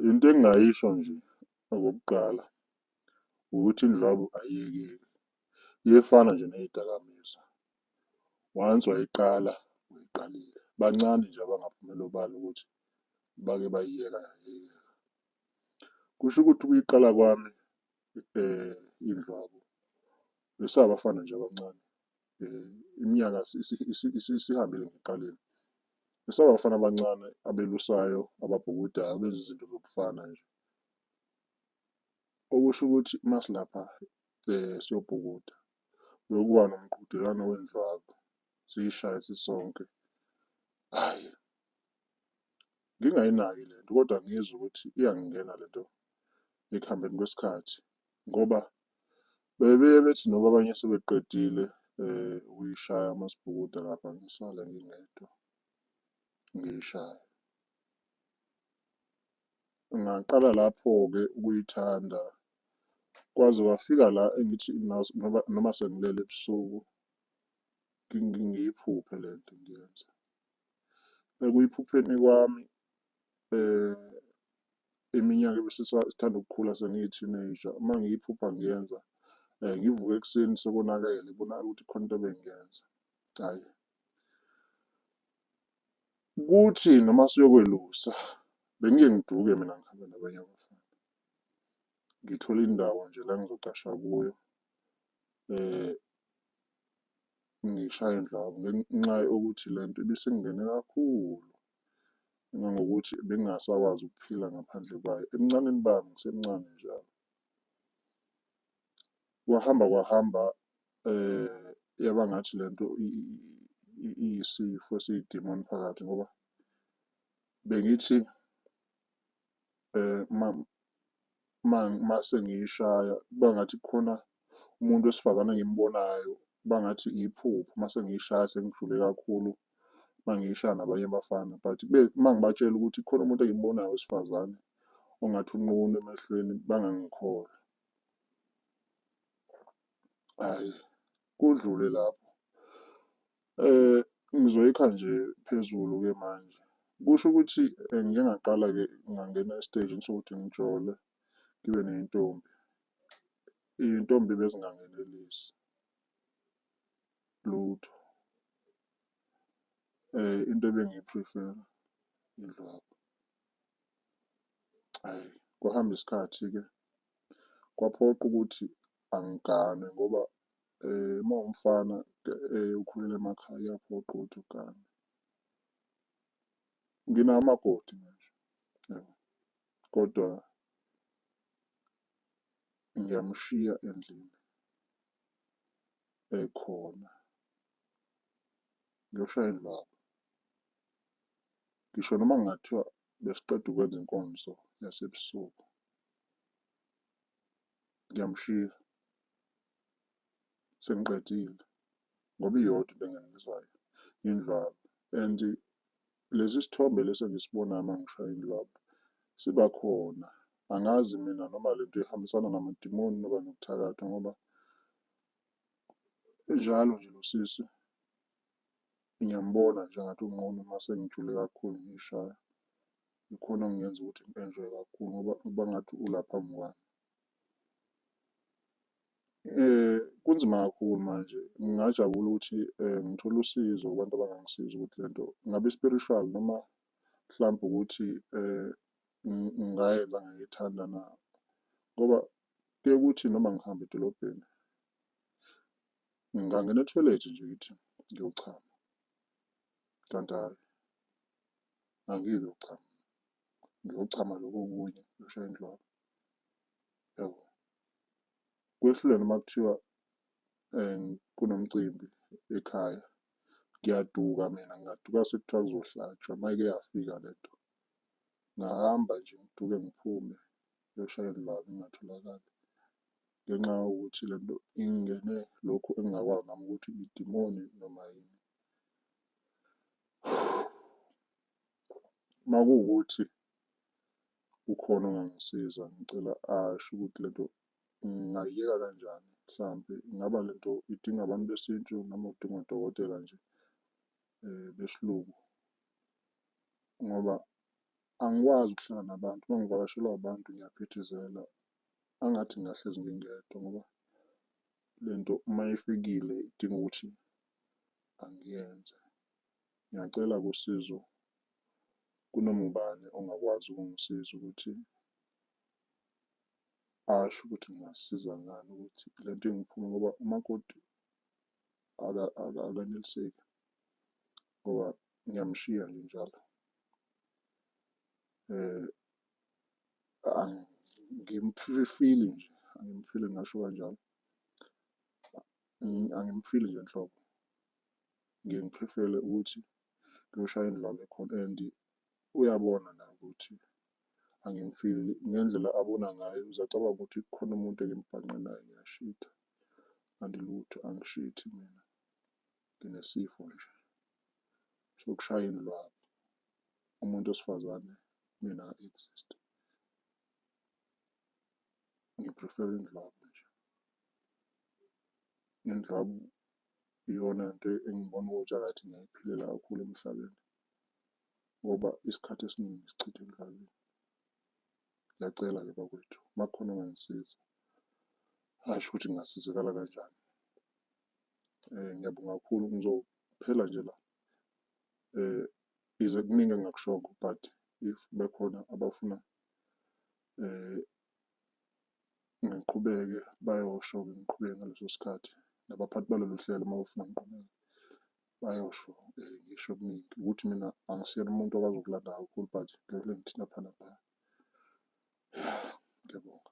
Into engingayisho nje okokuqala ukuthi indlwabu ayiyekeki, iyefana nje neyidakamizwa. Once wayiqala uyiqalile, bancane nje abangaphumela obala ukuthi bake bayiyeka yayiyeka. Kusho ukuthi ukuyiqala kwami indlwabu besabafana nje abancane. iminyaka isihambile ngiqalile besaba abafana abancane abelusayo ababhukudayo abenza izinto zokufana nje okusho ukuthi masilapha um siyobhukuda bekuba nomqhudelwano wendlwabu siyishaye sisonke hhayi ngingayinaki le nto kodwa ngizwa ukuthi iyangingena le nto ekuhambeni kwesikhathi ngoba bebeye bethi noba abanye sebeqedile um ukuyishaya amasibhukuda lapha ngisale ngingedwa ngiyishaya. Ngaqala lapho-ke ukuyithanda kwaze kwafika la engithi noma noma sengilele ebusuku ngiyiphuphe le nto ngiyenza. Ekuyiphupheni kwami eh iminyaka ebesisithanda ukukhula sengiyi-teenager uma ngiyiphupha ngiyenza um ngivuke ekuseni sekonakele ibonakala ukuthi khona into ebengiyenza hhayi kuthi noma siyokwelusa bengike ngiduke mina ngihambe nabanye abafana ngithole indawo nje la ngizogqasha kuyo um ngishaye indlwabu ngenxa yokuthi le nto ibisingingene kakhulu ngangokuthi bengingasakwazi ukuphila ngaphandle kwayo ebuncaneni bami ngisemncane njalo kwahamba kwahamba eh yaba ngathi lento iyisifo esiyidemoni phakathi ngoba bengithi um uma uma uma sengiyishaya kuba ngathi kukhona umuntu wesifazane engimbonayo kuba ngathi iphupho uma sengiyishaya sengijule kakhulu uma ngiyishaya nabanye abafana but kube uma ngibatshela ukuthi kukhona umuntu engimbonayo wesifazane ongathi unqunu emehlweni bangangikholwa hhayi. kudlule lapho. Eh ngizoyikha nje phezulu ke manje. Kusho ukuthi eh, ngike ngaqala ke ngangena esitejini sokuthi ngijole ngibe neyintombi. Iyintombi bezingangenelisi lutho. Eh into ebengiyiprefera indlwabu. Hhayi, kwahamba isikhathi-ke kwaphoqa ukuthi angigane ngoba uma umfana ukhulela emakhaya kuyaphoqa ukuthi ugane. Nginawo umakoti manje kodwa ngiyamshiya endlini ekhona ngiyoshaya indlwabu. Ngisho noma kungathiwa besiqeda ukwenza inkonzo yasebusuku ngiyamshiya sengiqedile ngoba iyodwa into engengizayo indlwabu and lesi sithombe lesi engisibonayo uma ngishaya indlwabu siba khona angazi mina noma le nto ihambisana namadimoni noba nokuthakatha ngoba njalo nje lo sisi ngiyambona nje ngathi unqunu uma sengijule kakhulu ngiyishaya ikhona okungenza ukuthi ngi-enjoy-e kakhulu ngoba uba ngathi ula phambi kwami. Kunzima kakhulu manje, ngingajabula ukuthi ngithole usizo kubantu abangangisiza ukuthi le nto ingabe i-spiritual noma mhlawumbe ukuthi ngingayenza ngayithanda na? Ngoba kuye kuthi noma ngihamba edolobheni, ngingangena ethoyilethi nje ngithi ngiyochama kanti hhayi. angeke uchama ngiyochama lokho okunye ngishaye indlwabu yabo kwehlulene uma kuthiwa um kunomcimbi ekhaya ngiyaduka mina ngingaduka sekuthiwa kuzohlatshwa mayike yafika le nto ngahamba nje ngiduke ngiphume ngiyoshaya indlwabu ingatholakali ngenxa yokuthi le nto ingene lokhu engingakwazi nami ukuthi idimoni noma yini Uma kuwukuthi kukhona ongangisiza ngicela asho ukuthi le nto ngingayiyeka kanjani mhlampe ingaba le nto idinga abantu besintu noma udinga odokotela nje um besilungu ngoba angikwazi ukuhlala nabantu uma ngivakashelwa abantu ngiyaphithizela angathi ngingahlezi ngingedwa ngoba le nto uma ifikile idinga ukuthi angiyenze. Ngiyacela kusizo kunoma ubani ongakwazi ukungisiza ukuthi asho ukuthi ngingasiza ngani ukuthi le nto ingiphume ngoba umakoti akaneliseki ngoba ngiyamshiya nje njalo. Um angimfili nje, angimfili ngingasho kanjalo. Angimfili nje nhlobo. Ngiye ngiprifele ukuthi ngiyoshaya indlala ekhona and uyabona naye ukuthi angimfili ngendlela abona ngayo uzacabanga ukuthi kukhona umuntu engimibhanqe naye ngiyashitha kanti lutho angishithi mina nginesifo nje sokushaya indlwabu umuntu wesifazane mina exist Ngiprifera indlwabu nje. Indlwabu iyona nto engibona ukuthi akathi ngiyayiphilela kakhulu emhlabeni ngoba isikhathi esiningi ngisichithe emhlabeni. Ngiyacela-ke bakwethu, uma kukhona ongangisiza, asho ukuthi ngingasizakala kanjani. Um ngiyabonga kakhulu, ngizophela nje la um ize kuningi engingakushongo but if bekhona abafuna ngiqhubeke bayosho-ke ngiqhubeke ngaleso sikhathi nabaphathi balolu hlelo uma befuna ngiqhubeke bayosho ngisho okuningi ukuthi mina angisiyena umuntu okwazi ukulanda kakhulu but ngivele ngithini lapha naphaya. Ngiyabonga.